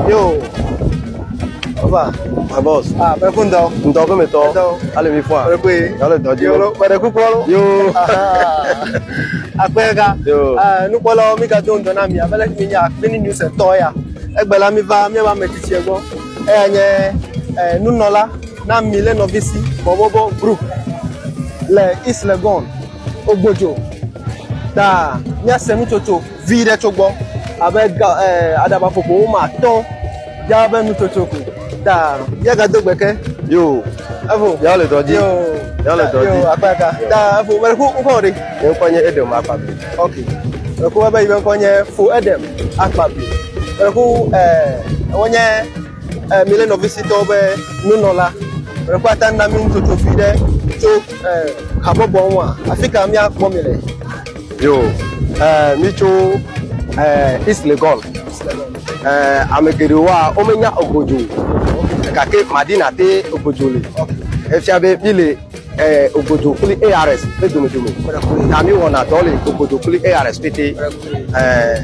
Yo. Oba. My boss. Ah, bɛ ko ntɔ. Ntɔ ko mi tɔ. Ntɔ. Ale mi fɔ a. Bɛ ko ye. Ale dɔ di. Yɔrɔ bɛrɛ kukɔ. Yo. Akpɛ ka. Yo. Ah, nukpɔlɔ mi ka to ntɔ na mi. Abɛlɛ mi nya mi ni mi sɛ tɔ ya. Egbɛla mi va mi ba mɛ titi gbɔ. Eya nye eh, nunɔla. Na mi le nɔvisi bɔbɔbɔ group le Islegon Ogbojo ta míase nutsotso vi ɖe tso gbɔ abe ga ɛ eh, aɖaba ƒoƒo woma atɔ ya be nutsotso ko ta míagado gbe ke. Yo. Evo. Ya le dɔ dzi. Yo. Ya le dɔ dzi. Yo akpa ka. Ta evo mɛ ko ŋkɔ ɖe. Mɛ ŋkɔ nye Edem Akpabi. Ok. Mɛ ko be yi mɛ ŋkɔ nye Fo Edem Akpabi. Mɛ ko ɛ eh, wonye mi le nɔvi sitɔwo be nunɔla ɖe kɔ ata na mi nutsotso vi ɖe tso habɔbɔ ŋu a afi ka míakpɔ mi le yo mi tso east legon ame geɖewoa womenya ogodzo gake madina te ogodzo le efia be mi le eh, Ogodo kple ARS ƒe domedome. Ta mi wɔna dɔ le Ogodo kple ARS pete. Eh,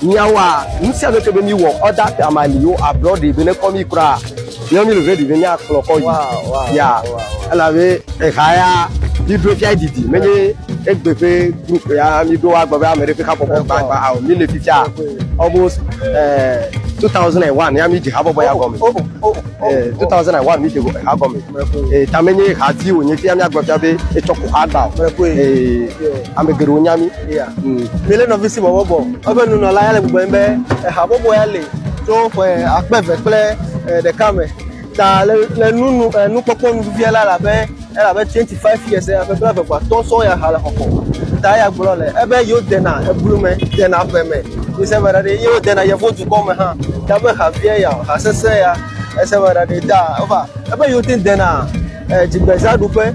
Mìawa nusianuke be mìwɔ order te ama li yo ablɔ ɖee be nekɔ mí kura míawo mí le ready be míakplɔ kɔ yi ya elabe eha ya mìɖo fia didi menye egbe ƒe group ya mìɖo agbe be ame ɖe ƒe habɔbɔ gbagba ao mí le fifia almost eh, 2001 ya mìdze habɔbɔ ya gɔme eh, 2001 mìdze ha gɔme eh, ta menye ha ti wònye fia míagblɔ fia be etsɔ ko ha gba o eh, ame geɖewo nya mí Mílé nɔvi si bɔbɔ bɔ eƒe nunɔla ya le gbugbɔe be habɔbɔ ya le tso ƒe akpe eve kple ɖeka me ta le le nunu nukpɔkpɔ nuvia la labe elabe twenty five years ƒe bla eve kpɔ atɔ sɔŋ ya ha le xɔxɔ ta ya gblɔ le ebe yewo dena eblu me dena ƒe me mise be ɖaɖa yewo dena yevu dukɔ me hã ta be ha vie ya ha sese ya ese be ɖaɖa ta eva ebe yewo te dena dzigbeza ɖuƒe.